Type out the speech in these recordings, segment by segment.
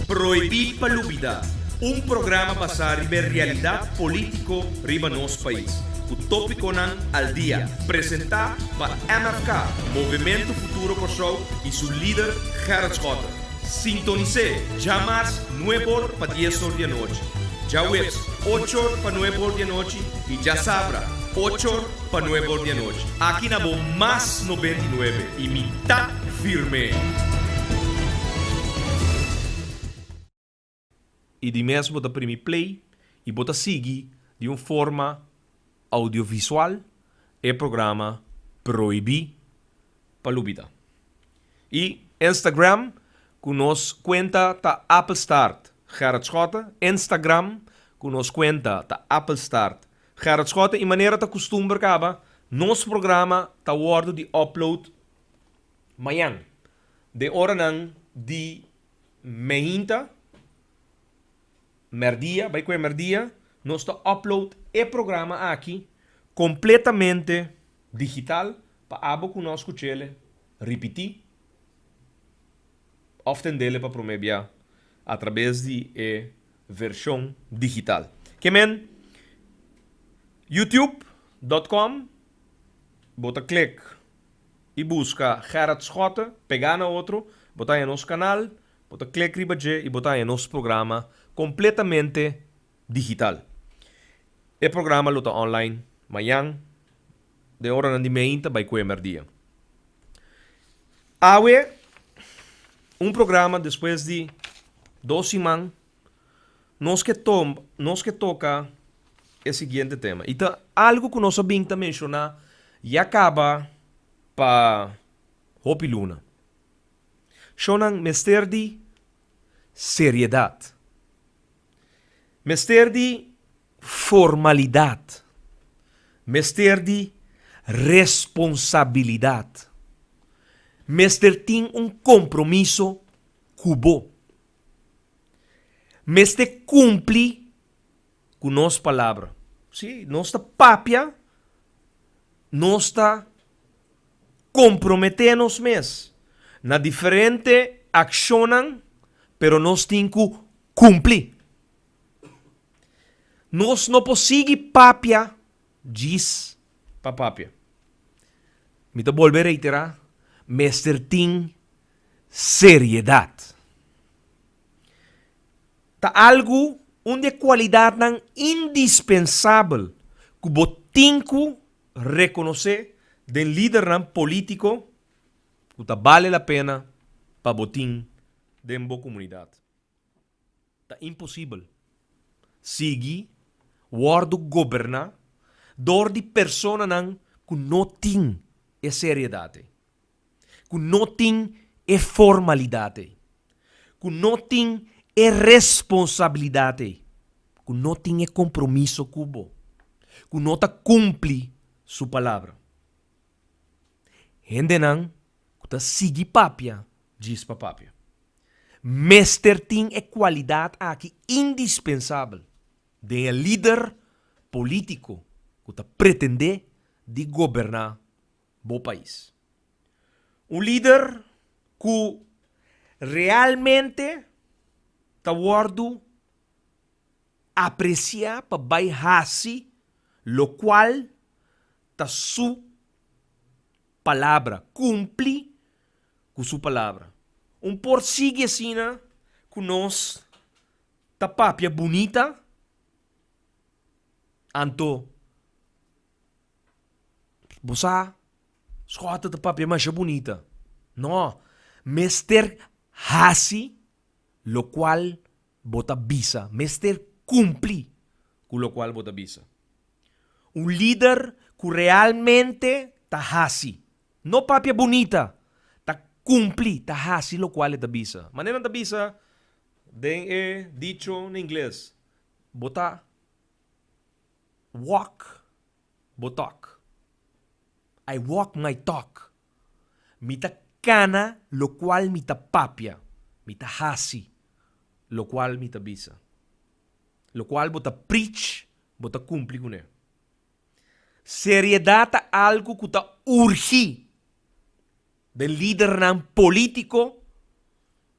Prohibí pa lubidá, un programa basá riba e realidat polítiko riba nos pais, ku tópikonan al dia, presentá pa MFK, Movementu Futuro Kòrsou, i su lider Gerrit Schotten. Sintonis'é djamas nuebe or pa dies or di anochi, djaweps ocho or pa nuebe or di anochi i djasabra ocho or Pa nuebe or di anochi. Aki na bo mas noventa i nuebe y mi ta firme. Y di mes bo ta primi play y bo ta sigui di un forma audiovisual e programa Prohibi pa Lupita. Y Instagram cu nos cuenta ta Appelstart Gerard Schotten Instagram cu nos cuenta ta Appelstart Gerard Schotten, I manera ta kustumber kaba, nos programa ta wòrdu di upload mañan den oranan di meinta, merdia, bai kue merdia, nos ta upload e programa aki kompletamente digital pa abo ku nos kuchele ripití òf tendele pa promé bia atrabes di e version digital. Ke men youtube dot com bo ta klik y buska Gerard Schotte pega na otro bo ta haña nos canal bo ta klik riba dje y bo ta haña nos programa completamente digital e programa lo ta online mañan Den oranan di meinta bai kue merdia. Awe un programa despues di dos siman nos ke tom nos ke toka e siguiente tema i ta algu ku nos a bin ta menshoná ya kaba pa hopi luna. Shownan mester di seriedat. Mester di Formalidad, mester di responsabilidad, mester tin un compromiso cu bo, mester cumpli cu nos palabra. Si nos ta papia, nos ta compromete nos mes na diferente accionnan, pero nos tin cu cumpli. Nos no por sigui papia djis pa papia. Mi ta bolbe reiterá, mester tin seriedad. Ta algu, un di e cualidadnan indispensabel cu bo tin cu reconoce den lidernan politico cu ta bale la pena pa bo tin den bo comunidad. Ta imposibel sigui wòrdu goberná dor di personanan ku no tin e seriedat ei, ku no tin e formalidad ei, ku no tin e responsabilidad ei, ku no tin e kompromiso ku bo, ku no ta kumpli su palabra. Hendenan ku ta sigui papia djis pa papia. Mester tin e kualidat aki indispensabel den e lider polítiko ku ta pretendé di goberná bo pais. Un lider ku realmente ta wòrdu apresiá pa bai hasi lokual ta su palabra, kumpli ku su palabra. Un por sigui asina ku nos ta papia bunita anto bo sa skòt ta papia masha bunita no mester hasi lokual Bo ta bisa, mester kumpli ku lokual bo ta bisa. Un lider ku realmente ta hasi, no papia bunita, ta kumpli, ta hasi lokual e ta bisa. Manera nan ta bisa den e dicho na ingles, Bo ta walk bo talk, I walk my talk. Mi ta kana lokual mi ta papia, mi ta hasi lokual mi ta bisa. Lokual bo ta prich, bo ta kumpli ku ne. Seriedat ta algu ku ta urgi den lidernan polítiko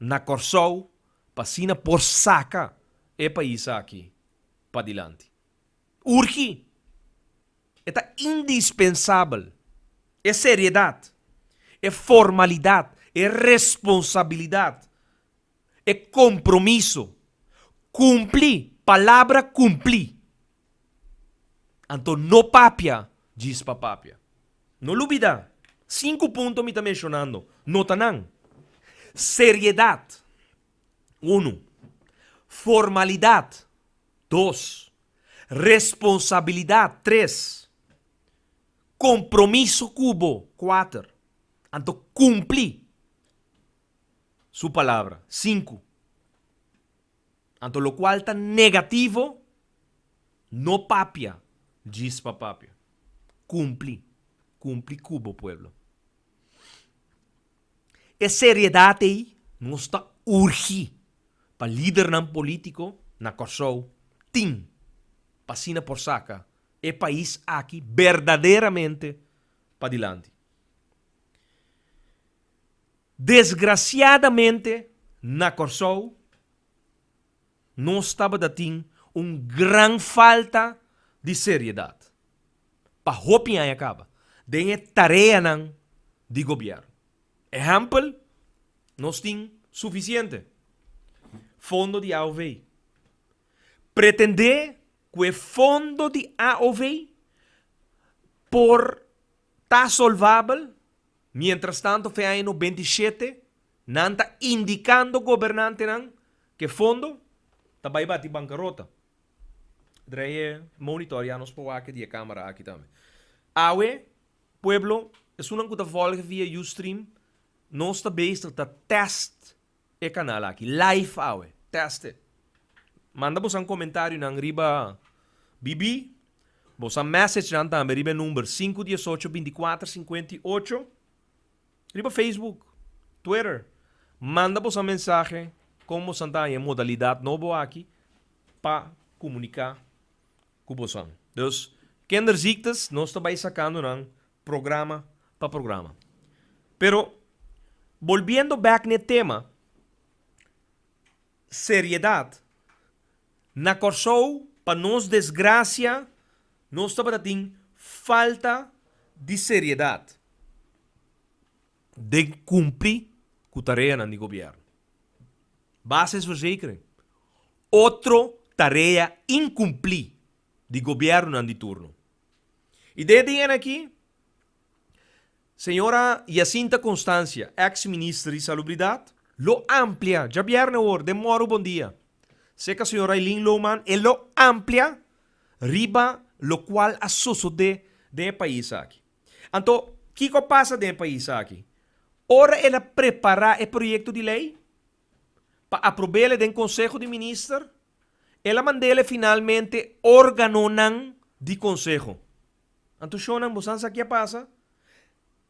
na Kòrsou pa asina por saka e pais aki padilanti. Urgi. E ta indispensabel e seriedat, e formalidat, e responsabilidat, e kompromiso, kumpli, palabra kumpli. Anto no papia djis pa papia. No lubidá, sinku punto mi ta menshonando, no ta nan. Seriedat. Unu, formalidad. Dos, responsabilidad. Tres, compromiso cu bo. Cuater, anto cumpli su palabra. Sinku, anto locual ta negativo no papia djis pa papia. Cumpli, cumpli cu bo pueblo. E seriedad ey nos ta urgi pa lidernan politico na Corsou tin pa asina por saca e pais aki berdaderamente padilanti. Desgraciadamente na Corsou. Nos tabata tin un gran falta di seriedad pa hopi aña caba den e tareanan di gobierno. Ehempel, nos tin suficiente fondo di AOV. Pretende cu e fondo di AOV por. Ta solvabel, mientrastanto fe aña no benti shete nan ta indicando gobernantenan ke fondo ta bai bati bankarota. Dreje monitorea nos powake di e kamera aki tambe. Awe, pueblo, esunnan ku ta volge via Ustream, nos ta bezig ta test E canal aki live awe. Test it. Manda bosan comentarionan riba BB, bosan messagenan tambe riba e number sinku dies ocho binti kuater sinkuenta i ocho. Riba Facebook, Twitter, manda bosan mensahe kon bosan ta haña e modalidad nobo aki pa comunica cu bosan. Dus, kinderziektes nos ta bay sacando nan programa pa programa. Pero bolbiendo bek n'e tema, seriedad, na Kòrsou pa nos desgracia nos tabata tin falta di seriedad den cumpli cu tareanan di gobierno. Basisverzekering, otro tarea incumpli di gobiernonan di turno. I den e dianan aki, señora Yacinta Constancia, ex Minister di Salubridat, lo amplia, djabièrnè awor, den Morro Bon Dia, serka señor Ailin Lohman, e lo amplia riba lokual a sosodé den e pais aki. Anto, kiko a pasa den e pais aki? Ora el a prepará e proyekto di lei pa aprob'é den Konseho di Minister, El a manda el'e finalmente organonan di Konseho. Anto shonnan, bo san sa ke a pasa?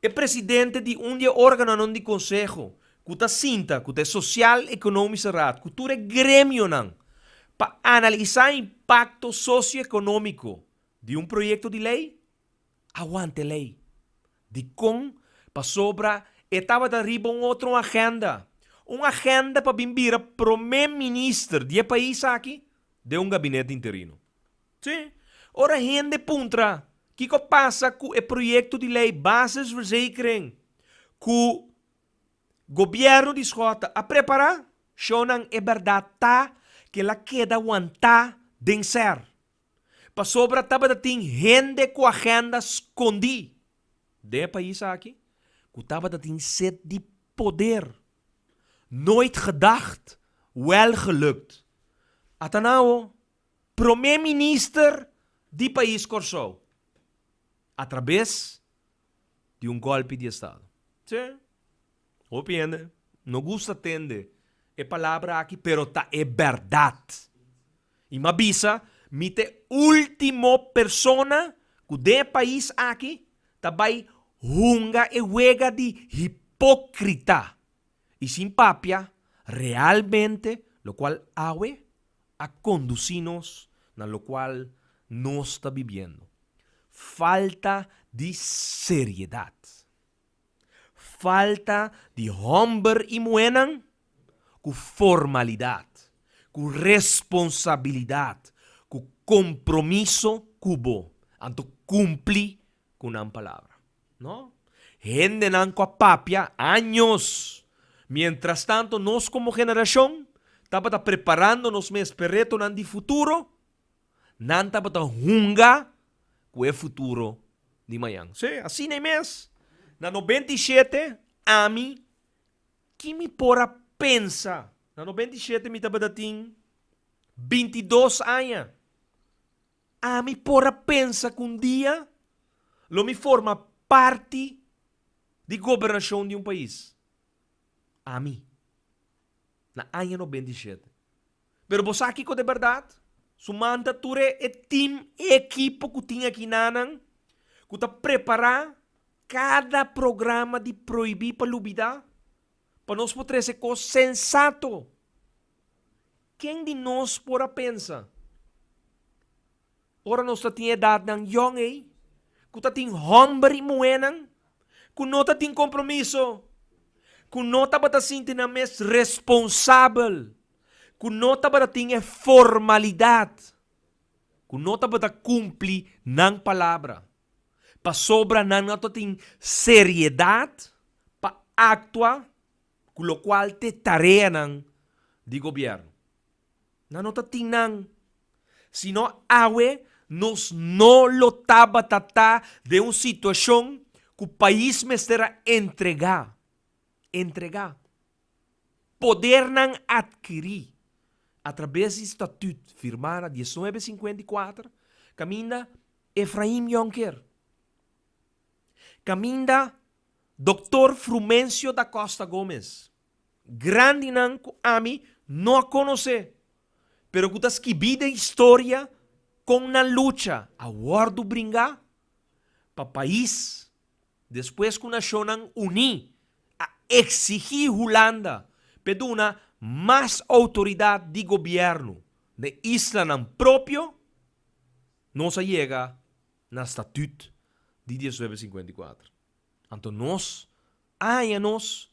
E presidente di un di e organonan di Konseho ku ta sinta, ku ta e Sosial Ekonomiske Raad, ku tur e gremionan pa analisá impakto sosioekonómiko di un proyekto di lei, Awanta e lei. Dikon? Pasobra e tabata riba un otro agenda, un agenda pa bin bira promé minister di e pais aki den un gabinete interino. Sí, ora hende puntra kiko pasa ku e proyekto di lei Basisverzekering ku Gobièrnu di Schotten a prepará, shownan e bèrdat ta ke el a keda wantá den ser. pasobra tabata tin hende ku agenda skondí den e pais aki ku tabata tin set di poder. Nooit gedacht, wel gelukt. Ata nan awo, promé minister di pais Kòrsou, atrabes di un golpi di estado. Sí, hopi hende no gusta tende e palabra aki pero ta e berdad. Y m'a bisa mi ta e ultimo persona cu den e pais aki ta bay hunga e wega di hipocrita y sin papia realmente locual awe a conduci nos na locual nos ta bibiendo. Falta di seriedad. Falta di homber y muhernan cu formalidad, cu responsabilidad, cu compromiso cu bo anto cumpli cu nan palabra. No. Hendenan cu a papia años. Mientrastanto nos como generacion tabata preparando nos mes p'e retonan di futuro, nan tabata hunga cu e futuro di mañan. Sí, asin'e mes, na no benti i shete, ami, ki mi por a pensa? Na no benti i shete mi tabata tin binti dos aña. Ami por a pensa ku un dia lo mi forma parti di gobernashon di un pais. Ami. Na aña nobenta i shete. Pero bo sa kiko ta e bèrdat? Sumanta tur e tim, e ekipo ku tin aki nanan ku ta prepará kada programa di prohibí pa lubidá pa nos por trese kos sensato Ken di nos por a pensa, ora nos ta tin e edatnan yòn ei, ku ta tin hòmber i muhénan ku no ta tin kompromiso, ku no tabata sinti nan mes responsabel, ku no tabata tin e formalidat, ku no tabata kumpli nan palabra? Pasobra nan no ta tin seriedat pa aktua ku lokual t'e tareanan di gobièrnu nan no ta tin nan, sino awe nos no lo tabata ta den un situashon ku pais mester a entregá, entregá, podernan atkirí atrabes di statüt firmá na dieznuebe sinkuenta i kuater kaminda Efraim Jonker, kaminda. Doctor Frumencio Da Costa Gomez, Grandinan cu ami no a conoce, pero cu ta skibí den historia con nan lucha a wordo bringá pa pais despues cu Nacionnan Uní a exigí Hulanda p'e duna mas autoridad di gobierno na e islanan propio, nos a yega na statut di diesnuebe singkuenta i kuater. Anto nos, aña nos,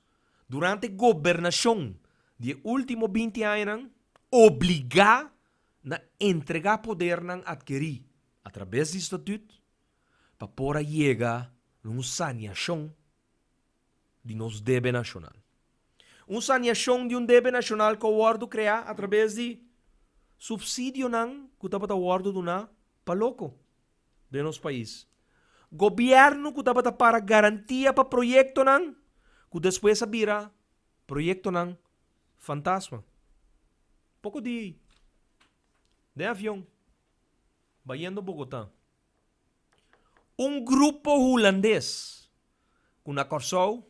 durante gobernashon di e último binti añanan, obligá na entregá podernan atkerí atrabes di statut pa por a yega na un saniashon, di nos debe nashonal. Un saniashon di un debe nashonal ku a wòrdu kreá atrabes di supsidionan ku tabata wòrdu duná pa loko den nos pais. Gobièrnu ku tabata para garantia pa proyektonan ku despues a bira proyektonan fantasma. Poko di den avion, bayendo Bogotá. Un grupo Hulandes cu na Corsou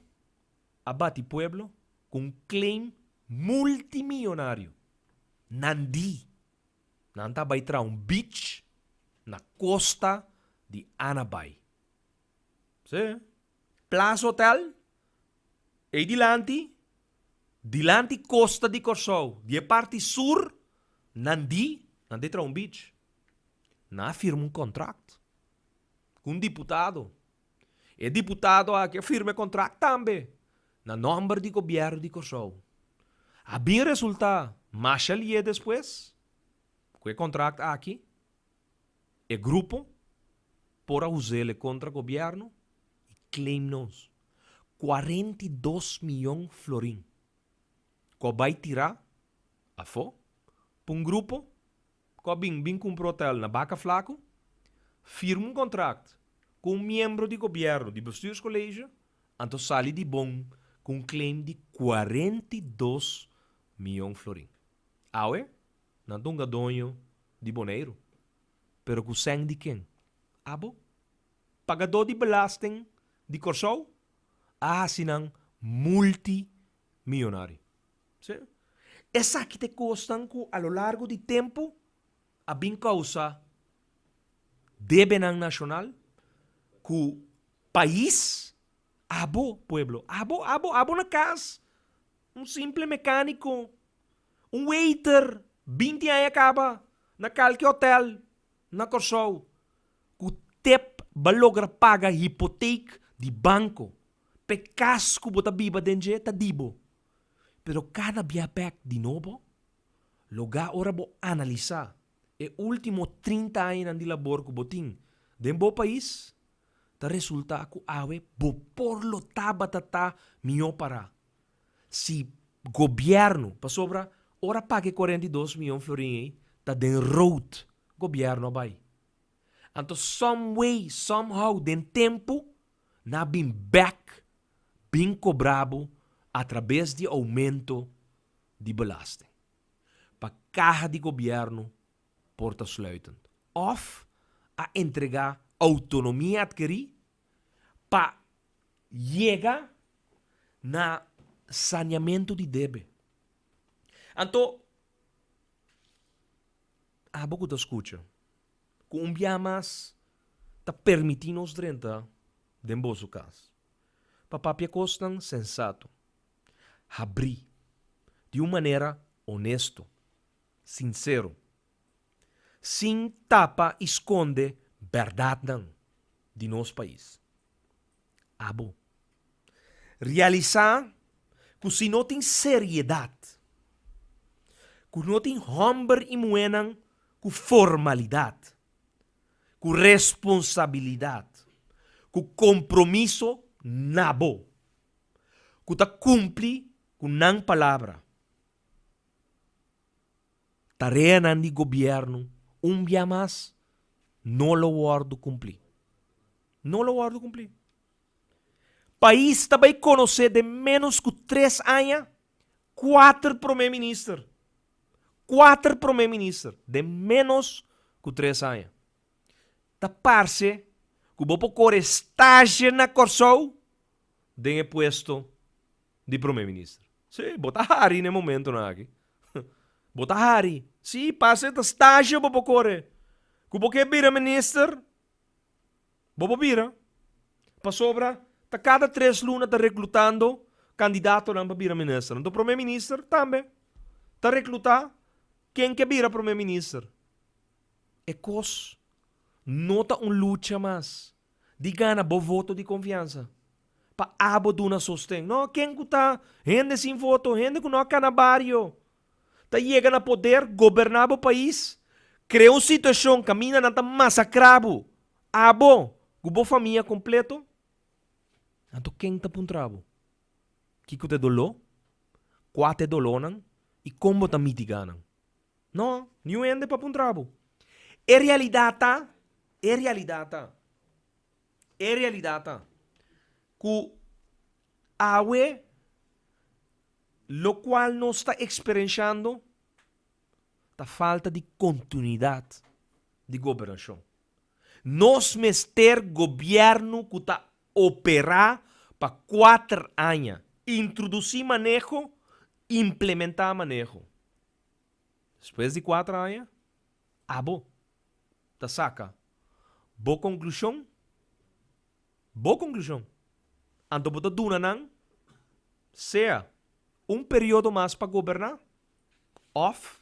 a bati pueblo cu un claim multimillonario. Nan di? Nan ta bay traha un beach na costa di Anabai. Sí. Plaza Hotel, ei dilanti, dilanti costa di Corsou, di e parti sur, nan di, nan te traha un beach. Nan a firma un contract cu un diputado. E diputado aki a firma e contract tambe na nomber di gobierno di Corsou. A bin resulta masha lie despues cu e contract aki, E grupo por a usa el e contra gobierno y claim nos cuarenta y dos miyon florin cu a bay tira afo pa un grupo cu a bin bin cumpra hotel na Baca Flaco, firma un contract cu un miembro di gobierno di bestuurscolegio anto sali di bon cu un claim di cuarenta y dos miyon florin. Awe Nan ta un gadoño di Boneiru. Pero ku sèn di ken? Abo? Pagadó di belasten di Kòrsou a hasi nan multi mionario. Si. Esaki ta e kosnan ku a lo largo di tempu a bin kousa debenan nashonal ku pais. Abo, pueblo. Abo, abo, abo na kas. Un simple mekániko. Un waiter binti aña kaba na kalke hotel na Kòrsou ku tep bo a logra paga hipotek di banko pa e kas ku bo ta biba den dje ta di bo. Pero kada bia bèk di nobo. Logá ora bo analisá e último trinta añanan di labor ku bo tin den bo pais ta resultá ku awe bo por lo tabata ta mihó pará. si gobierno, pasobra ora paga e cuarenta y dos mion florin ey ta den rood gobierno a bay. Anto some way, some how den tempo na bin back bin cobra bo a traves di aumento di belasting pa caha di gobierno por ta sluiten of a entrega autonomia adkeri pa yega na saniamentu di debe. Anto, abo ku ta skucha, ku un biaha mas ta permití nos drenta den boso kas pa papia kosnan sensato, habrí, di un manera onesto, sinsero. sin tapa i skonde bèrdatnan di nos pais. Abo. Realisá ku si no tin seriedat, ku no tin hòmber i muhénan ku formalidat, ku responsabilidat, ku kompromiso na bo, ku ta kumpli ku nan palabra, tareanan di gobierno un bia mas no lo wordo cumpli. No lo wordo cumpli. Pais ta bay conoce den menos cu tres aña cuater prome minister. Cuater prome minister den menos cu tres aña. Ta parce cu bo por core stage na Corsou den e puesto di Prome Minister. Sí, bo ta hari n'e momentonan aki. Bo ta hari. Sí, pase ta stage bo por core. Cu bo ke bira Minister, bo por bira. Pasobra ta cada tres luna ta reclutando candidatonan pa bira Minister. Anto Prome Minister tambe ta recluta ken ke bira Prome Minister. E cos no ta un lucha mas. di gana bo voto di konfiansa pa abo duna sosten. No, ken ku ta hende sin voto, hende ku no a ka na bario, ta yega na poder, goberná bo pais, krea un situashon kaminda nan ta masakrá bo, abo ku bo famia kompleto, anto ken ta puntra bo kiko ta e doló, kua ta e dolónan i kon bo ta mitiga nan? No, niun hende pa puntra bo. E realidat ta, e realidat ta, e realidat ta ku awe lokual nos ta eksperenshando ta falta di kontinuidat di gobernashon. Nos mester gobièrnu ku ta operá pa kuater aña, intrudusí maneho, implementá maneho. Despues di kuater aña, abo ta saka bo konklushon, bo konklushon, anto bo ta duna nan sea un periodo mas pa goberná òf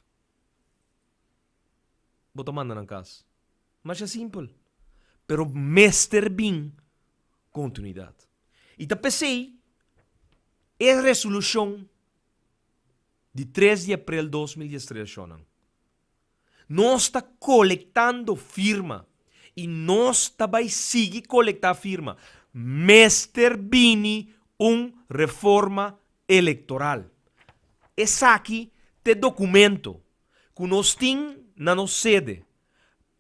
bo ta manda nan kas. Masha simpel. Pero mester bin kontinuidat. I ta p'esei e resolushon di tres di aprel dos mil dies tres shonnan. Nos ta kolektando firma i nos ta bai sigui kolektá firma mester bini un reforma elektoral. Esaki ta e dokumento ku nos tin na nos sede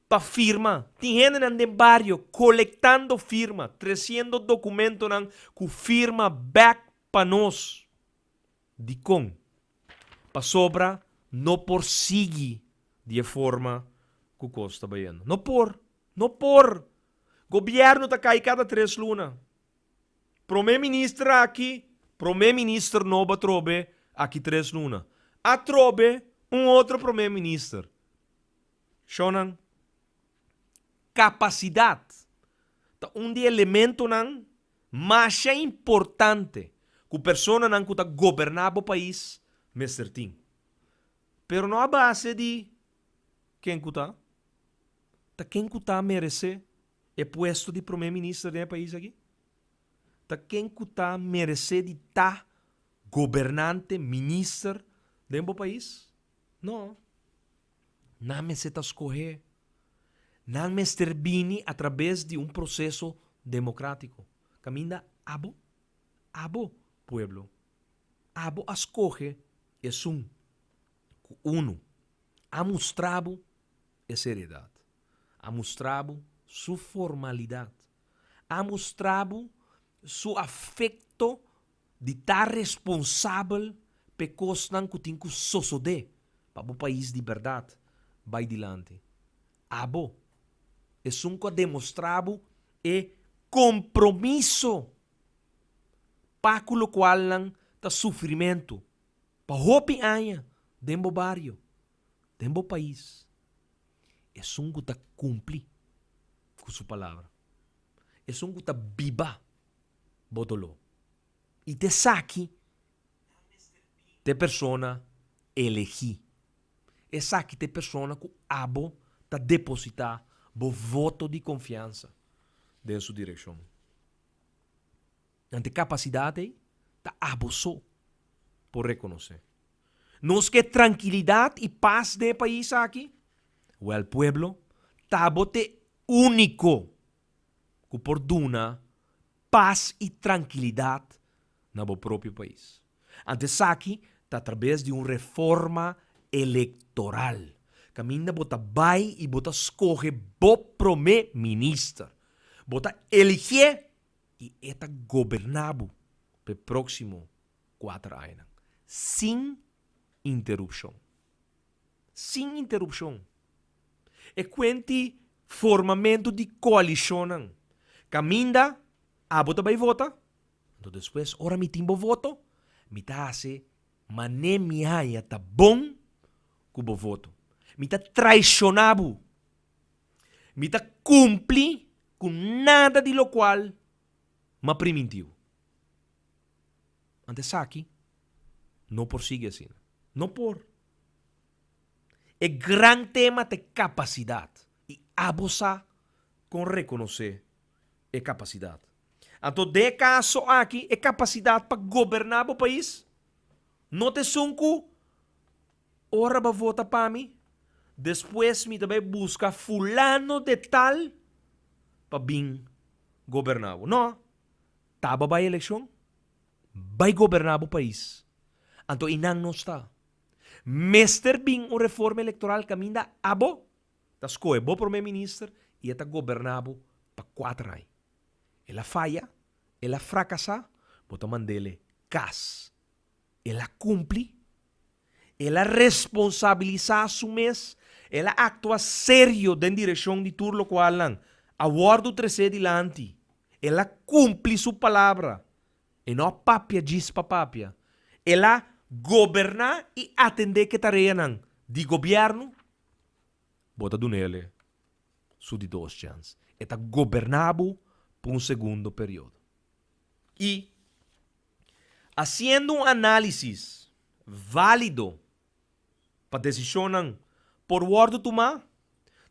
pa firma. Tin hendenan den bario kolektando firma, tresiendo dokumentonan ku firma bèk pa nos. Dikon? Pasobra no por sigui di e forma ku kos ta bayendo. No por! No por! Gobièrnu ta kai kada tres luna. Promé minister aki, promé minister nobo atrobe aki tres luna. Atrobe un otro promé minister. Shò nan, kapasidat ta un di e elementonan Masha importante ku personanan ku ta goberná bo pais mester tin. Pero no a base di ken ku ta. Ta ken ku ta meresé e puesto di Promé Minister den e pais aki? Ta ken ku ta meresé di ta gobernante, minister, den bo pais? No. Nan mester ta skohe. Nan mester bini atrabes di un proseso demokratiko. Kaminda abo, abo pueblo, abo a skohe esun ku unu a mustra bo e seriedat, a mustra bo su formalidat, a mustra bo su afekto. di ta responsabel p'e kosnan ku tin ku sosodé pa bo pais di bèrdat bai dilanti. Abo, esun ku a demostrá bo e kompromiso pa ku lokualnan ta sufrimentu pa hopi aña den bo bario, den bo pais, esun ku ta kumpli ku su palabra, esun ku ta biba. bo doló. I ta esaki ta e persona elegí. Esaki ta e persona ku abo ta depositá bo voto di konfiansa den su direkshon. Anto e kapasidat ei ta abo so por rekonosé. Nos ke trankilidat i pas den e pais aki? Wèl pueblo, ta bo ta e úniko. ku por duna pas i trankilidat na bo propio pais. Ant esaki ta atrabes di un reforma elektoral, kaminda bo ta bai i bo ta skohe bo promé minister. Bo ta eligé i e ta goberná bo pa e próksimo kuater añanan, sin interupshon. sin interupshon. E kuenti formamentu di koalishonnan kaminda abo ta bai vota, anto despues ora mi tin bo voto mi ta hasi mané mi haña ta bon ku bo voto. Mi ta traishoná bo. Mi ta kumpli ku nada di lokual mi a priminti bo. Ante esaki no por sigui asina. No por. E gran tema ta e capacidad y abo sa con reconoce e capacidad. Anto den e caso aki e capacidad pa goberna bo pais no ta esun cu ora bo a vota pa mi despues mi ta bay busca fulano de tal pa bin goberna bo. No, ta bo bay eleccion Bai goberná bo pais. Anto i nan nos ta. Mester bin un reforma electoral caminda abo ta scohe bo prome minister y e ta goberná bo pa cuater aña. El a faya, el a fracasá, bo ta mand'ele cas. El a cumpli, el a responsabilisá su mes, el a actua serio den direccion di tur locualnan, a wordo tresé dilanti, el a cumpli su palabra, E no a papia djis pa papia. El a goberná i atendé ke tareanan di gobièrnu. Bo ta duna el e su di dos chèns. E ta goberná bo pa un segundo periodo. I hasiendo un análisis válido pa desishonnan por wòrdu tumá,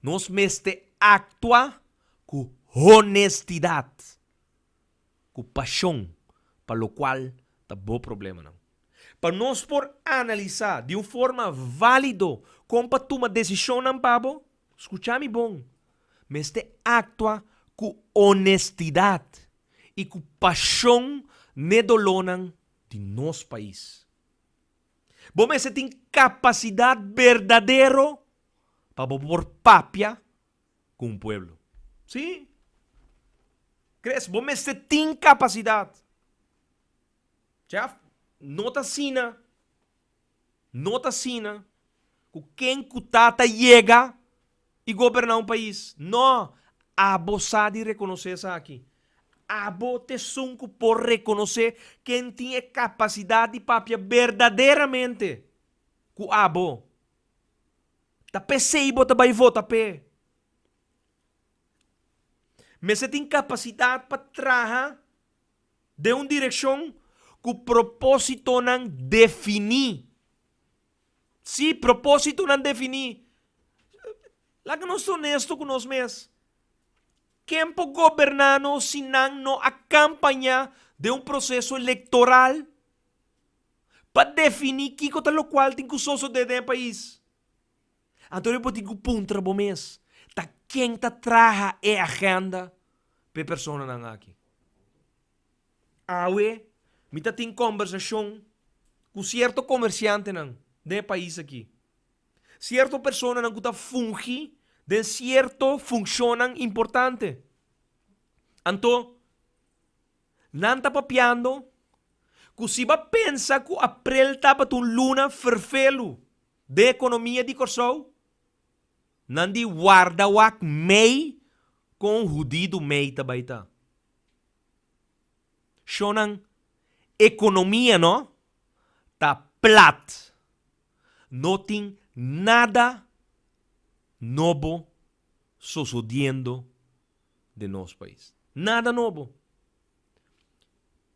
nos mester aktua ku honestidat. ku pashon pa lokual ta bo problemanan. Pa nos por analisá di un forma válido kon pa tuma desishonnan pa bo, skuchá mi bon, mester aktua ku onestidat i ku pashon n'e dolónan di nos pais. Bo mester tin kapasidat berdadero pa bo por papia ku un pueblo. Sí. Kres, bo mester tin kapasidat. Chef, no ta asina, no ta asina ku ken ku ta ta yega i goberná un pais. No! Abo sa di rekonosé esaki. Abo ta esun ku por rekonosé ken tin e kapasidat di papia berdaderamente ku abo. Ta pesey bo ta bay vota p'e. Mester tin capacidad pa traha den un direccion cu propositonan defini. Sí, propositonan defini. Laga nos ta honesto cu nos mes, ken por goberna nos si nan no a campaña den un proceso electoral? pa defini kiko ta lokual tin ku soso den e pais. Anto bo tin ku puntra bo mes, Ta ken ta traha e agenda pa e personanan aki? Awe mi ta tin kombersashon ku sierto komersiantenan den e pais aki, sierto personanan ku ta fungi den sierto funshonnan importante. Anto. Nan ta papiando cu si bo a pensa cu aprel tabata un luna ferfelu den economia di Corsou, nan di warda wak mei con un hudidu mei ta bay ta. Sho nan economia no ta plat, no tin nada nobo sosodiendo. den nos pais. Nada nobo.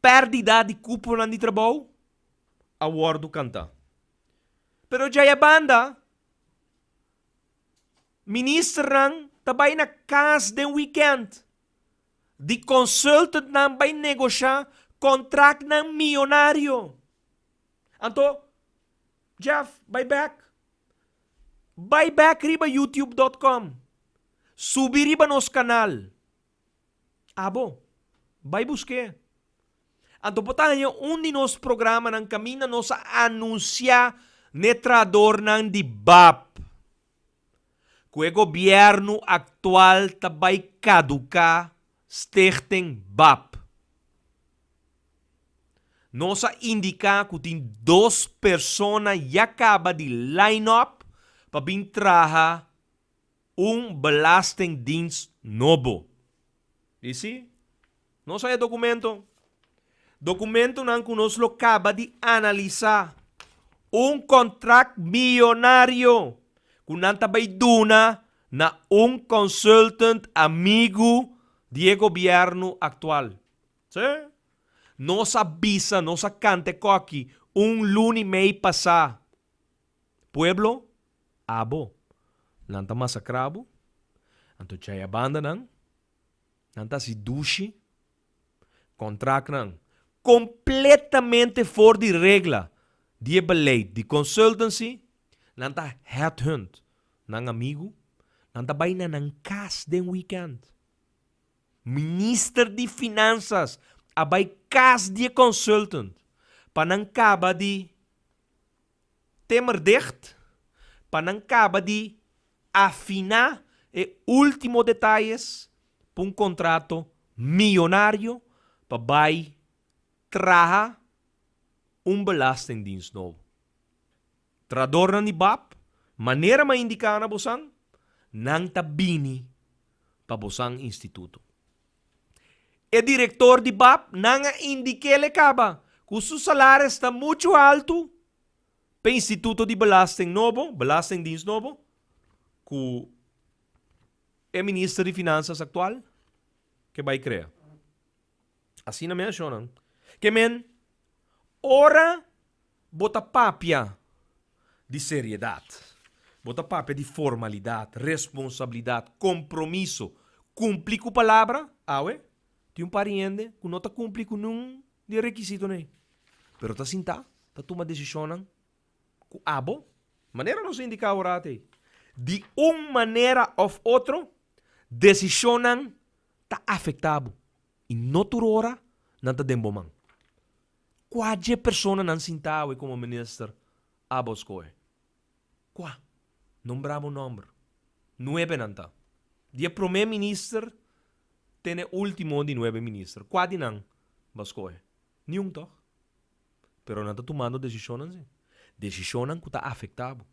Perdida di cuponan di trabou a wordo canta. Pero djaya banda, ministernan ta bay na cas den weekend, di consultantnan bay negosha contractnan millonario. Anto, Jeff, bay back. Bay back riba youtube dot com. Subi riba nos kanal. Abo. Bai busk'é. Anto bo ta haña un di nos programanan kaminda nos a anunsiá n'e trahadornan di bap ku e gobièrnu aktual ta bai kaduká, Stichting bap. Nos a indiká ku tin dos persona ya kaba di line-up pa bin traha un belastingdienst nobo. Di si, nos a e documento. Documentonan cu nos lo caba di analisa. Un contract millonario cu nan ta bay duna na un consultant amigo di e gobierno actual. Si, nos a bisa, nos a canta e coki un luni mei pasa. Pueblo. Abo, nan ta masakra bo, anto tjaya banda nan, nan ta hasi dushi, kontraktnan kompletamente for di regla di e beleid di consultancy, nan ta headhunt nan amigu, nan ta bai na nan kas den weekend. Minister di Finansas a bai kas di e consultant pa nan kaba di Temerdicht pa nan kaba di afiná e último detayes pa un kontrato miyonario pa bai traha un belastingdiens nobo. Trahadornan di bap, manera m'a indiká na bosan, nan ta bini pa Bosan Instituto. E direktor di bap nan a indikéle kaba ku su salares ta muchu haltu pa e instituto di belasting nobo, belastingdiens nobo, ku e minister di Finansas aktual ke bai krea. Asina mi a shona. Ke men, ora bo ta papia di seriedat, bo ta papia di formalidat, responsabilidat, kompromiso, kumpli ku palabra, awe tin un par di hende ku no ta kumpli ku niun di e rekisitonan ei, pero ta sinta, ta tuma desishonnan ku abo, manera nos a indiká ora ate, di un manera òf otro, desishonnan. ta afecta bo y no tur ora nan ta den bo man. Cua dje persona nan sinta awe como minister abo scohe? Cua? Nombra bo nomber. Nuebe nan ta. Di e prome minister te n'e ultimo di nuebe minister. Cua di nan bo a scohe? Niun toch? Pero nan ta tumando decisionnan si. Decisionnan cu ta afecta bo.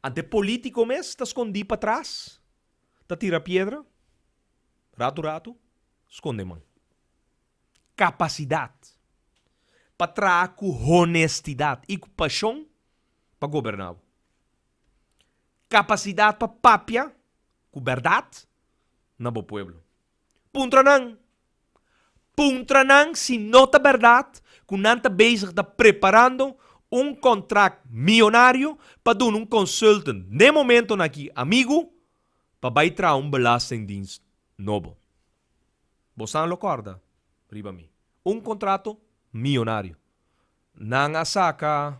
Ante politico mes ta scondi patras ta tira piedra, ratu ratu skonde man. Kapasidat pa traha ku honestidat i ku pashon pa goberná bo. Kapasidat pa papia ku bèrdat na bo pueblo. Puntra nan. Puntra nan si no ta berdad cu nan ta bezig ta preparando un contract millonario pa duna un consultant den momento na aki amigo pa bay traha un belastingdienst nobo. Bo san lo corda riba mi. Un contrato millonario. Nan a saca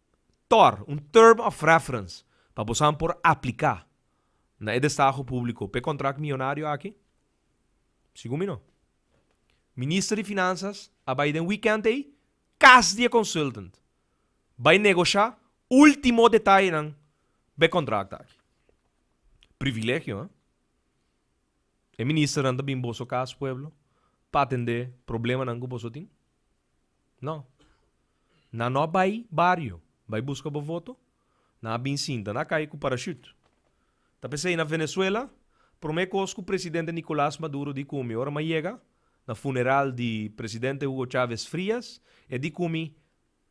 tor, un term of reference, pa bosan por apliká na e destaho públiko pa e kontrakt mionario aki? Segun mi no. Minister di Finansas a bai den wikènt ei kas di e konsultant bai negoshá último detayenan pa e kontrakt aki. Privilegio, ha? E ministernan ta bin boso kas, pueblo, pa atendé problemanan ku boso tin? No. Nan no a bai bario bai buska bo voto, nan a bin sinta na kai ku parashut. Ta p'esei na Venezuela, promé kos ku presidente Nicolas Maduro di kumi ora m'a yega na funeral di presidente Hugo Chávez Frías, e di kumi,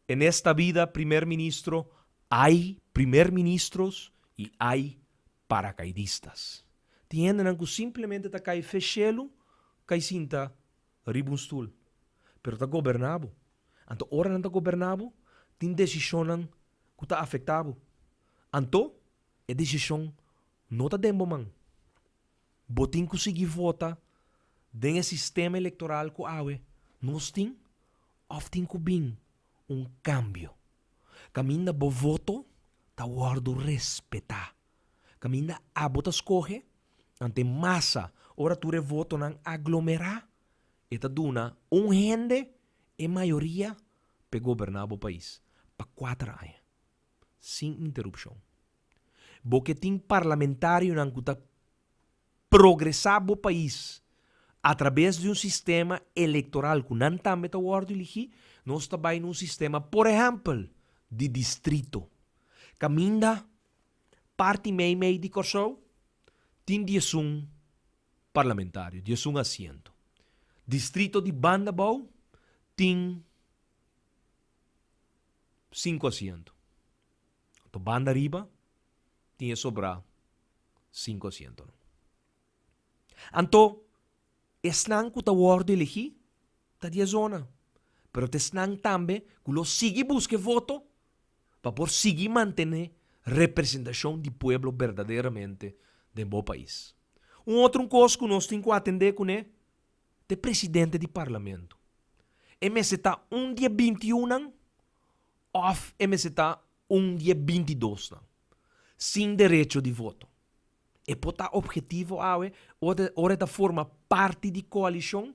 En esta bida primer ministro ai primer ministros i ai parakaidistas. Tin hendenan ku simplemente ta kai fe shelu kai sinta riba un stul, pero ta goberná bo. Anto ora nan ta goberná bo, tin desishonnan ku ta afektá bo. Anto e desishon no ta den bo man. Bo tin ku sigui vota den e sistema elektoral ku awe nos tin òf tin ku bin un kambio kaminda bo voto ta wòrdu respetá. Kaminda abo ta skohe, ant e masa, ora tur e votonan aglomerá, e ta duna un hende e mayoria pa e goberná bo pais pa kuater aña, sin interupshon. Bo ke tin parlamentarionan ku ta progresá bo pais atrabes di un sistema elektoral ku nan tambe ta wòrdu eligí, nos ta bai na un sistema, por ehèmpel, di distrito. Kaminda Parti meimei di Kòrsou tin diesun parlamentario, diesun asiento. Distrito di banda bou tin sinku asiento. Banda riba tin e sobrá sinku asientonan. Anto, esnan ku ta wòrdu elegí ta di e zona, pero ta esnan tambe ku lo sigui buska e voto pa por sigui mantené representashon di pueblo berdaderamente den bo pais. Un otro kos ku nos tin ku atendé kuné ta e presidente di parlamento. E mester ta un di e binti i unnan òf e mester ta un di e bintidosnan sin derecho di voto. E por ta objetivo awe ora e ta forma parti di coalicion,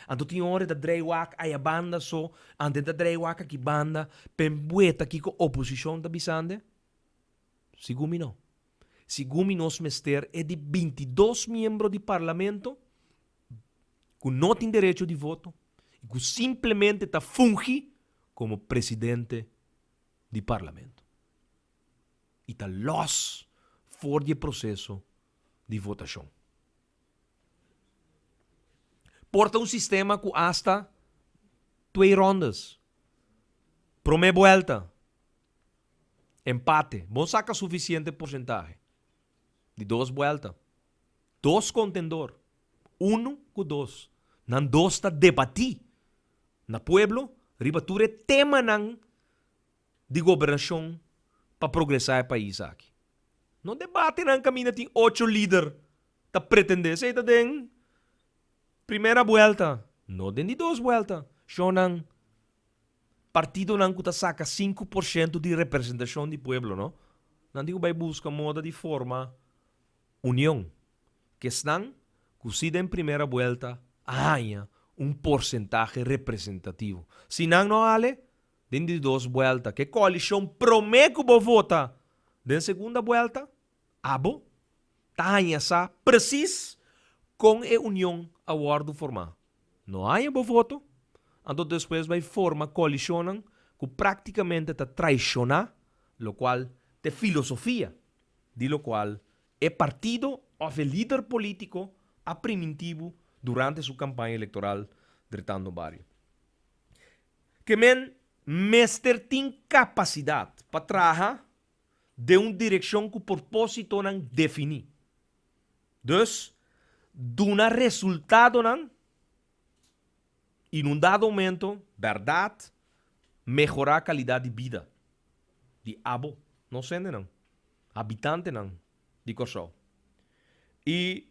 anto tin ora e ta draai wak ayabanda so, anto e ta draai wak aki banda, p'en bueta kico oposicion ta bisande? Sigun mi no. Sigun mi nos mester e di bintidos miembro di Parlamento cu no tin derecho di voto y cu simplemente ta fungi como presidente di Parlamento i ta lòs for di e proseso di votashon. Por ta un sistema ku asta twe ròndas, promé buelta, empate, bon saka sufisiente porsentahe di dos buelta Dos kontendor, unu ku dos. Nan dos ta debatí na pueblo riba tur e temanan di gobernashon pa progresá e pais aki. No debatenan kaminda tin ocho lider ta pretendé. Esei ta den primera buelta, no den di dos buelta. Shonnan, partidonan ku ta saka sinku por shento di representashon di pueblo no, nan tin ku bai buska moda di forma. Union, ku esnan ku si den primera buelta a haña un porsentahe representativo. Si nan no hale den di dos buelta, ku e koalishon promé ku bo vota den segunda buelta, abo ta haña sa presis kon e union a wòrdu formá. No haña bo voto, anto despues bai forma koalishonnan ku praktikamente ta traishoná, lokual t'e filosofia di lo cual e partido of e lider politico a primintibu durante su campaña electoral dretando bario. Ke men mester tin capacidad pa traha den un direccion cu porpositonan defini. Dus, duna resultadonan. i nun dado momento berdad mehorá kalidad di bida di abo nos hendenan, habitantenan di Kòrsou. I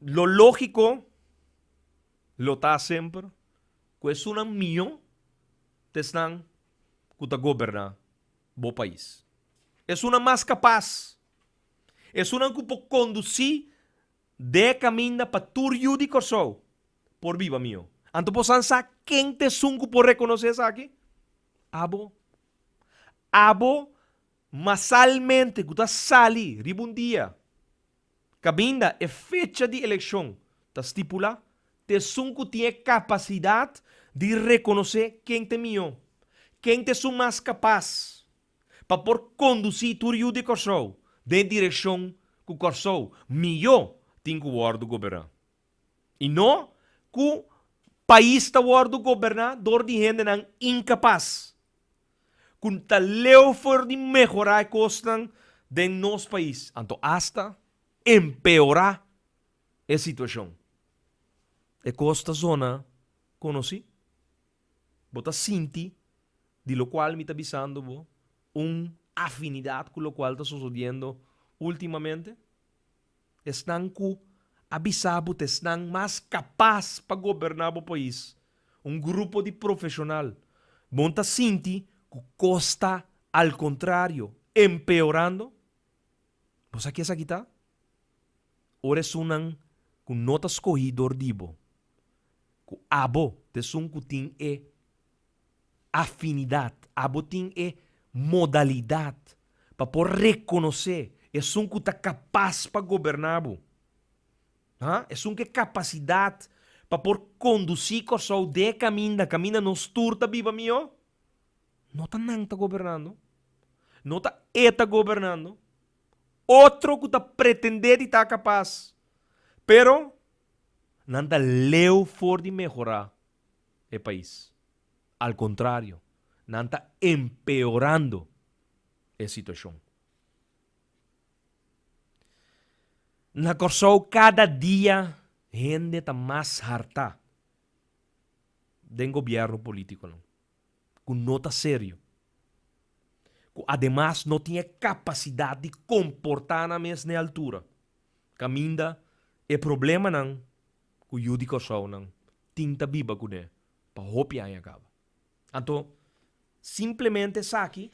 lo lógiko lo ta semper ku esunnan mihó ta esnan ku ta goberná bo pais. Esunnan mas kapas, esunnan ku por kondusí Dé caminda pa tur yu di Corsou por biba mihó. Anto bo san sa ken t'esun cu por reconoce esaki? Abo. Abo masalmente cu ta sali riba un dia cabinda e fecha di eleccion ta stipula, t'esun cu tin e capacidad di reconoce ken t'e mihó, ken t'esun mas capaz. pa por kondusí tur yu di Kòrsou den e direkshon ku Kòrsou mihó tin ku wòrdu goberná i no ku pais ta wòrdu goberná dor di hendenan inkapas ku ta leu for di mehorá e kosnan den nos pais, anto asta empeorá e situashon. E kos ta zona konosí. Bo ta sinti, di lokual mi ta bisando bo, un afinidat ku lokual ta sosodiendo ultimamente? Esnan ku a bisa bo ta esnan mas kapas pa goberná bo pais, un grupo di profeshonal. Bon ta sinti ku kos ta al kontrario, empeorando? Bo sa kies aki ta? Ora esunnan ku no ta skohí dor di bo. ku abo ta esun ku tin e afinidat, abo tin e modalidat pa por rekonosé esun ku ta kapas pa goberná bo, ha? Esun ku e kapasidat pa por kondusí Kòrsou dje kaminda, kaminda nos tur ta biba mihó. No ta nan ta gobernando, no ta e ta gobernando, otro ku ta pretendé di ta kapas, pero nan ta leu for di mehorá e pais. Al kontrario, nan ta empeorando e situashon. Na Kòrsou kada dia hende ta mas hartá den gobièrnu polítikonan. ku no ta serio, ku ademas no tin e kapasidat di komportá nan mes na e altura, kaminda e problemanan ku yu di Kòrsounan tin ta biba kuné pa hopi aña kaba. Anto, simplemente esaki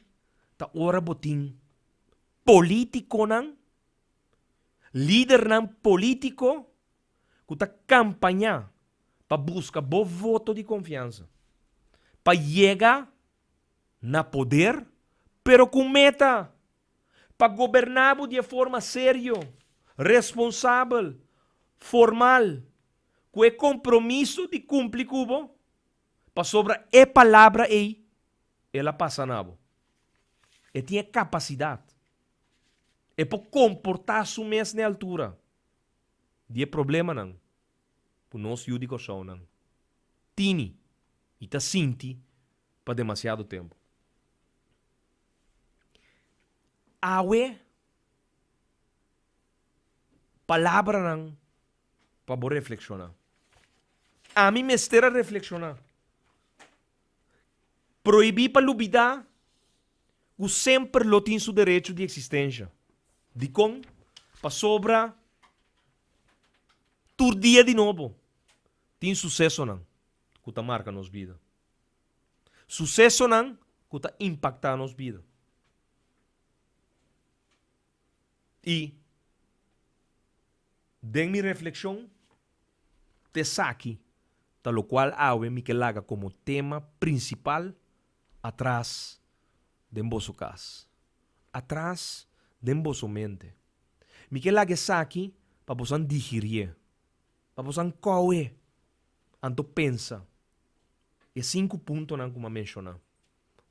ta ora bo tin polítikonan, lidernan polítiko ku ta kampañá pa buska bo voto di konfiansa pa yega na poder, pero ku un meta, pa goberná bo di e forma serio, responsabel, formal, ku e kompromiso di kumpli ku bo, pasobra e palabra ei el a pasa na bo. E tin e kapasidat. E por komportá su mes na e altura. di e problemanan ku nos yu di Kòrsounan tini i ta sinti pa demasiado tempu. Awe palabranan pa bo reflekshoná. Ami mester a reflekshoná Prohibí pa lubidá ku semper lo tin su derecho di eksistensha. Dikon? Pasobra tur dia di nobo tin susesonan ku ta marka nos bida, susesonan ku ta impaktá nos bida. I den mi reflekshon. T'esaki ta lokual awe mi ke laga komo tema prinsipal atras den boso kas, atras den boso mente. Mi ke laga esaki pa bosan digirié, pa bosan kou'é anto pensa e sinku puntonan ku m'ha menshoná,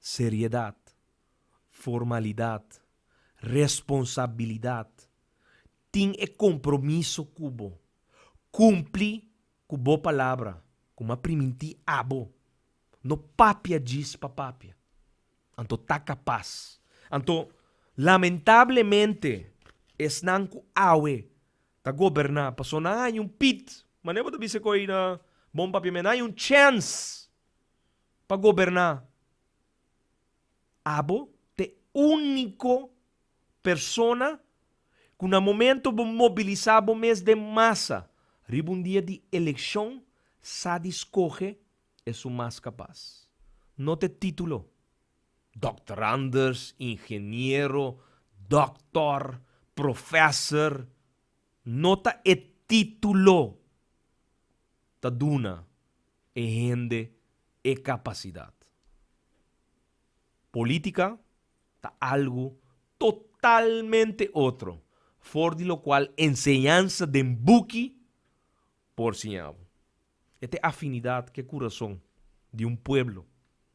seriedat, Formalidad, responsabilidad, tin e compromiso cu bo, cumpli cu bo palabra cu m'a priminti abo, no papia djis pa papia, anto ta capaz, anto lamentablemente esnan cu awe ta goberna paso nan hay un pit, mane bo ta bisa cu ey na bon papiamento, nan hay un chance pa goberna. Abo ta e úniko persona ku na momentu bo mobilisá bo mes den masa riba un dia di elekshon sa di skohe esun mas kapas. Nota e título, Dòkter Anders, Ingeniero, Dòktor, Profèser. Nota e título ta duna. e hende e capacidad. Politica ta algo totalmente otro for di locual enseñansa den buki por siña bo. E ta e afinidad cu e curazon di un pueblo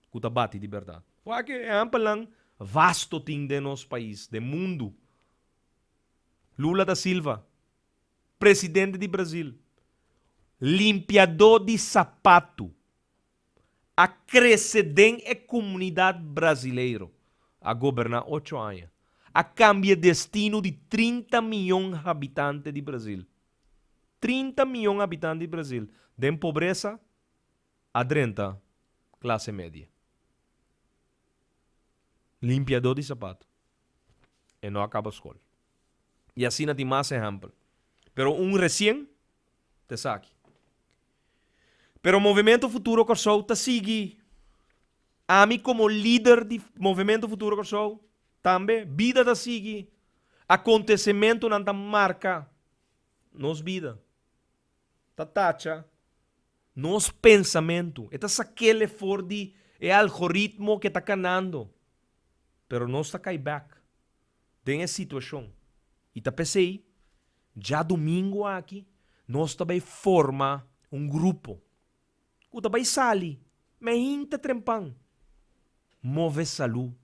cu ta bati di berdad. Wak e ehampelan vasto tin den nos pais, den mundo. Lula da Silva. Presidente di Brasil, Limpiadó di sapatu, a krese den e kumunidat brasileiro, a goberná ocho aña, a kambie destino di trinta mion habitante di Brasil. Trinta mion habitante di Brasil den pobresa a drenta klase medie. Limpiadó di sapatu. e no a kaba skol. I asina tin mas ehèmpel, pero un resien ta esaki. Pero Movimiento Futuro Kòrsou ta sigui. Ami komo lider di Movimiento Futuro Kòrsou tambe, bida ta sigui, akontesementunan ta marka nos bida, ta tacha nos pensamentu, e ta sak'el e for di e algoritmo ke ta kanando, pero nos ta kai bek den e situashon i ta p'esei dja dumingu aki nos ta bai forma un grupo ku ta bai sali mei hinte trempan, move salu,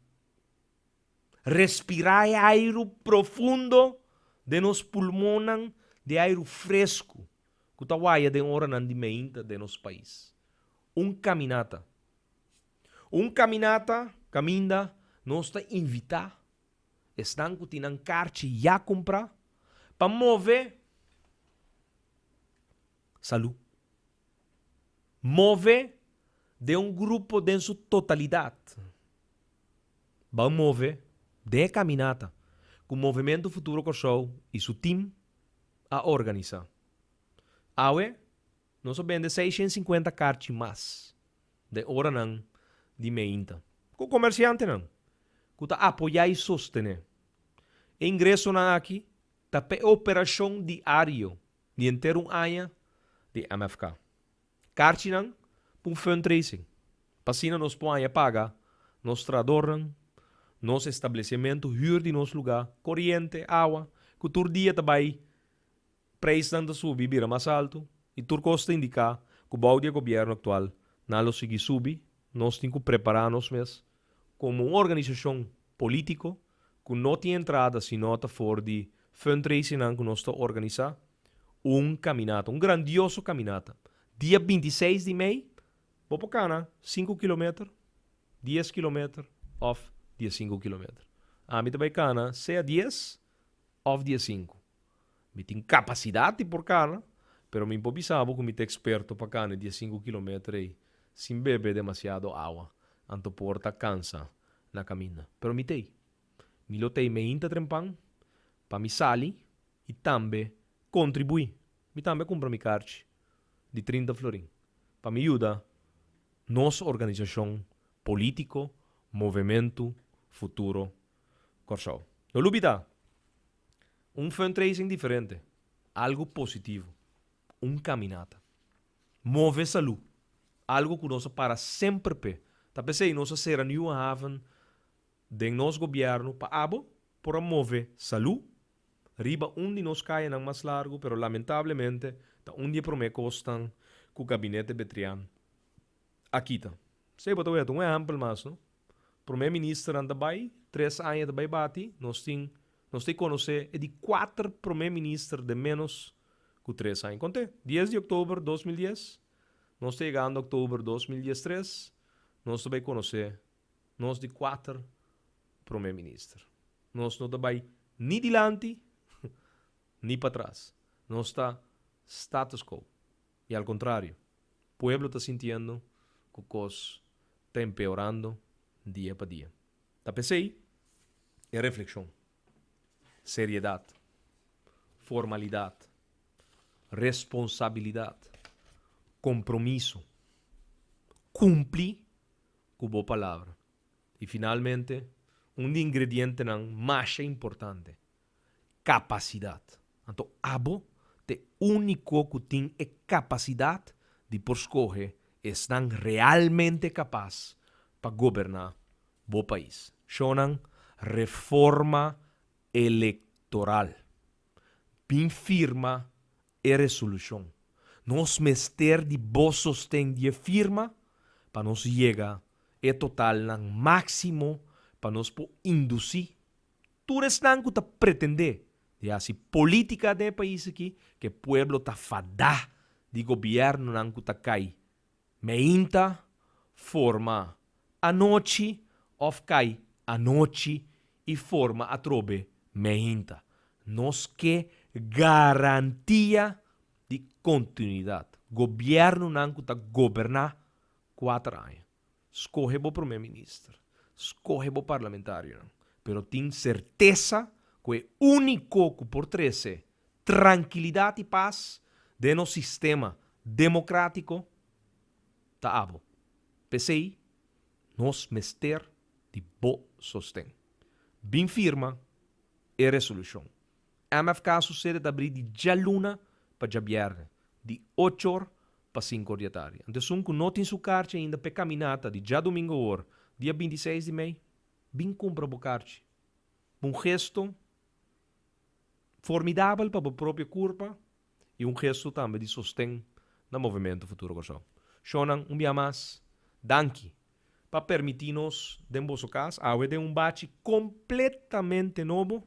respirá e airu profundo den nos pulmonnan di airu fresku ku ta waya den oranan di mei hinte den nos pais. Un kaminata. Un kaminata, kaminda, nos ta invitá esnan ku tin nan karchi ya kumprá pa move salú. Move den un grupo den su totalidat. Ban move den e kaminata ku Movementu Futuro Kòrsou i su tim a organisá. Awe Nos a bende seis shen sinkuenta karchi mas den e oranan di meinta. Ku komersiantenan ku ta apoyá i sostené e ingresonan aki ta pa e operashon diario di henter un aña di MFK. Karchinan pa un fundraising pa asina nos por haña paga nos trahadornan, nos establesimentu, hür di nos lugá, koriente, awa, ku tur dia ta bai Preisnan ta subi bira mas altu i tur kos ta indiká ku bou di e gobièrnu aktual nan lo sigui subi. Nos tin ku prepará nos mes komo un organisashon polítiko ku no tin entrada sino ta for di fundraisingnan ku nos ta organisá un kaminata, un grandioso kaminata. Dia binti i seis di mei bo por kana sinku kilometer, dies kilometer òf diasinku kilometer. Ami ta bai kana sea dies òf diasinku. Mi tin kapasidat di por kana, pero mi por bisa bo ku mi ta eksperto pa kana e dies sinku kilometer ei sin bebe demasiado awa, anto por ta kansa na kaminda. Pero mi t'ei. Mi lo t'ei meinta trempan pa mi sali i tambe kontribuí. Mi tambe a kumpra mi karchi di trinta florin pa mi yuda nos organisashon polítiko, movementu futuro Kòrsou. Lo lubi ta un fundraising diferente, algu positivo, un kaminata. Move salú, algu ku nos a para semper p'e. Ta p'esei nos a sera Nieuwe Haven den nos gobièrnu pa abo por a move salú riba un di nos kayanan mas largu, pero lamentablemente ta un di e promé kosnan ku Gabinete Betrian a kita. P'esei bo ta wèt un ehèmpel mas, no? Prome ministernan ta bai, tres aña ta bai bati, nos tin, nos ta e conoce e di cuater prome minister den menos cu tres aña. Conte? Dies di october dos mil dies, nos ta yegando october dos mil dies tres, nos ta bai conoce nos di cuater prome minister. Nos no ta bai ni dilanti, ni patras. Nos ta status quo. I al kontrario, pueblo ta sintiendo ku kos ta empeorando dia pa dia. Ta p'esei e reflekshon, seriedat, formalidat, responsabilidat, kompromiso, kumpli ku bo palabra i finalmente un di ingredientenan masha importante capacidad. Anto abo t'e unico cu tin e capacidad di por scoge esnan realmente capaz pa goberna bo pais. Shonan reforma electoral. Bin firma e resolucion. Nos mester di bo sosten di e firma pa nos yega e totalnan maximo pa nos por induci Tur esnan ku ta pretendé di hasi polítika den e pais aki, ku e pueblo ta fadá di gobièrnunan ku ta kai meinta forma anochi òf kai anochi i forma atrobe meinta. Nos ke garantia di kontinuidat, gobièrnunan ku ta goberná kuater aña. Skohe bo promé minister, skohe bo parlamentarionan, pero tin sertesa ku e úniko ku por trese trankilidat i pas den nos sistema demokratiko ta abo. P'esei nos mester di bo sosten. Bin firma e resolushon, MFK Susede ta abrí di djaluna pa djabièrnè, di ocho or pa sinku or di atardi. Ant esun ku no tin su karchi ainda p'e kaminata di djadumingu awor, dia binti seis di mei, bin kumpra bo karchi. Un gesto formidabel pa bo propio kurpa i un gestu tambe di sosten na Movimentu Futuro Kòrsou. Shonnan, un bia mas danki pa permití nos den boso kas awe den un bachi kompletamente nobo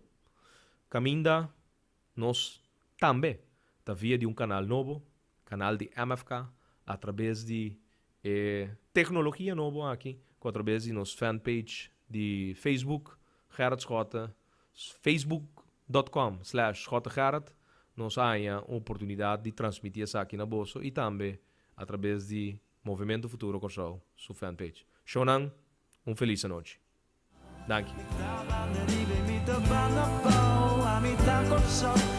kaminda nos tambe ta via di un kanal nobo, kanal di MFK, atrabes di e teknologia nobo aki ku atrabes di nos fanpage di Facebook Gerrit Schotten Facebook.com slash JoteGerard Nos a haña un oportunidad di transmiti esaki na boso y tambe a traves di Movimento Futuro Corsou su fan page. Shownan un feliz anochi. Danki.